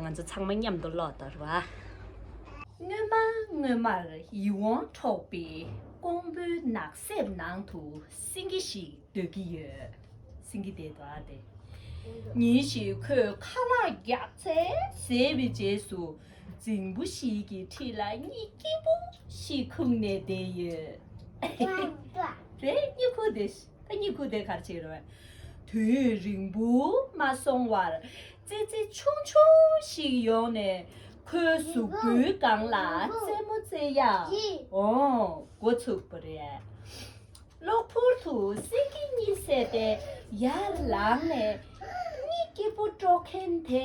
ང་ཚོ་ཚང་མ་མཉམ་དུ་ཀློག་དོར་བ། སྔོན་མ་སྔོན་མར་ཡིད་འོང་འཕྲོག་པའི་ཀོང་པོའི་ནགས་གསེབ་ནང་དུ་སེང་གེ་ཞིག་སྡོད་ཀྱི་ཡོད། སེང་གེ་དེ་འདུག་སྟེ། ཉིན་ཞིག་ཁོས་ཁ་ལག་བརྒྱག་ཚེ་ཟས་པའི་རྗེས་སུ་རྫིང་བུ་ཞིག་གི་འཁྲིས་ལ་གཉིད་སྐྱིད་པོ་ཞིག་ཁུག་ནས་བསྡད་ཡོད། རེད། གཉིད་ཁུག་དེ། ཨ་མྱེས་སྐུ་དེ་གར་ཕྱིན་རོལ། དུས་ཡུན་རིང་པོ་མ་སོང་བར། ཙི་ཙི་ཆུང་ཆུང་ཞིག་ཡོང་ནས། ཁོའི་གཟུགས་པོའི་སྒང་ལ་རྩེད་མོ་རྩེད་ཡ་འོང་འགོ་ཚུགས་པ་རེད། གློ་བུར་དུ་སེང་གེ་གཉིད་སད་དེ་ཡར་ལངས་ནས། གཉིད་སྐྱིད་པོ་དཀྲོག་མཁན་དེ་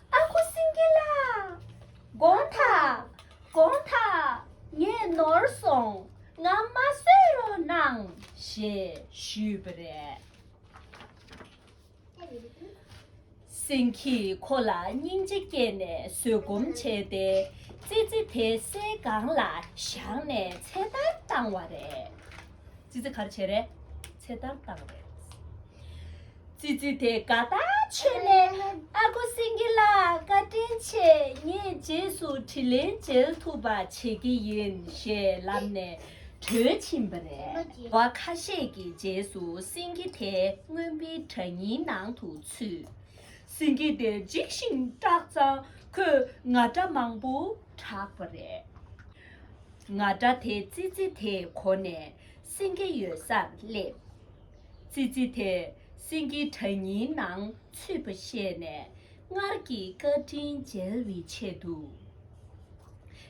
ཨ་ཁུ་སེང་གེ་ལགས། དགོངས་དག། དགོངས་དག། ངས་ནོར་སོང་ང་མ་བཟོད་རོགས་གནང། ཞེས་ཞུས་པ་རེད། སེང་གིས་ཁོ་ལ་སྙིང་རྗེ་སྐྱེས་ནས་བཟོད་སྒོམ་བྱས་ཏེ་ཙི་ཙི་དེ་སའི་སྒང་ལ་བཞག་ནས་ཚེ་ཐར་བཏང་བ་རེད། ཙི་ཙི་ག་རེ་བྱས་རེད། ཚེ་ཐར་བཏང་རེད། ཙི་ཙི་དེ་ག་ད་ཆོས་ནས་ཨ་ཁུ་སེང་གེ་ལགས་བཀའ་དྲིན་ཆེ་ངས་རྗེས་སུ་དྲི་ལན་འཇལ་ཐུབ་པ་བྱེད་ཀྱི་ཡིན་ཞེས་ལབ་ནས་བྲོས་ཕྱིན་པ་རེད། བ་ཁ་ཤས་ཀྱི་རྗེས་སུ་སེང་གེ་དེ་རྔོན་པའི་བྲག་རྙིང་ནང་དུ་ཚུད། སེང་གེ་དེ་འཇིགས་ཤིང་སྐྲག་ཙང་ཁོས་ང་སྒྲ་མང་པོ་གྲགས་པ་རེད། ང་སྒྲ་དེ་ཙི་ཙི་དེས་གོ་ནས་སེང་གེ་ཡོད་སར་སླེབས། ཙི་ཙི་དེ་སེང་གེའི་དྲ་སྙིང་ནང་ཚུད་པ་ཤེས་ནས་སྔར་གྱི་བཀའ་དྲིན་འཇལ་བའི་ཆེད་དུ།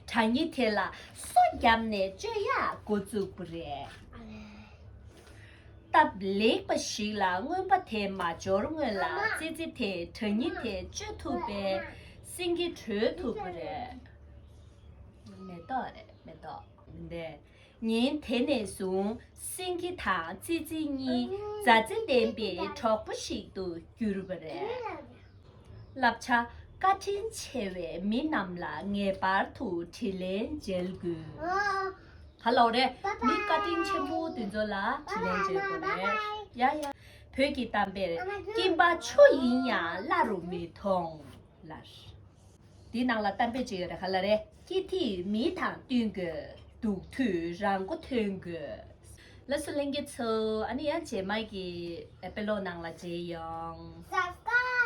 དྲ་སྙིང་དེ་ལ་སོ་བརྒྱབ་ནས་བཅོས་ཡག་འགོ་བཙུགས་པ་རེད། སྟབས་ལེགས་པ་ཞིག་ལ་རྔོན་པ་དེ་མ་འབྱོར་སྔོན་ལ་ཙི་ཙི་དེ་དྲ་སྙིང་དེ་བཅོས་ཐུབ་པས་སེང་གེ་གྲོལ་ཐུབ་པ་རེད། མེ་ཏོག་རེད་མེ་ཏོག། ཉིན་དེ་ནས་བཟུང་སེང་གེ་དང་ཙི་ཙི་གཉིས་མཛའ་བརྩེ་ལྡན་པའི་གྲོགས་པོ་ཞིག་ཏུ་གྱུར་པ་རེད། བསླབ་བྱ་བཀའ་དྲིན་ཆེ་བའི་མི་རྣམས་ལ་ངེས་པར་དུ་དྲིན་ལན་འཇལ་དགོས། མི་བཀའ་དྲིན་ཆེན་པོ་དེ་ཚོ་ལ་དྲིན་ལན་འཇལ་དགོས་རེད། བོད་ཀྱི་གཏམ་དཔེར་སྐྱིན་པ་ཆུ་ཡིན་ཡང་བླ་རུ་མི་མཐོང། དེའི་ནང་ལ་གཏམ་དཔེ་ཅིག་རེ་ཧ་ལ་རེ། སྐྱིད་ཐིག་མི་དང་བསྟུན་དགོས། སྡུག་དུས་རང་མགོ་ཐོན་དགོས། ལ་སུ་གླེང་གི་ཚུལ་ཨ་ནི་ཡང་རྗེས་མ་གི་དཔེ་ཀློག་ནང་ལ་མཇལ་ཡོང།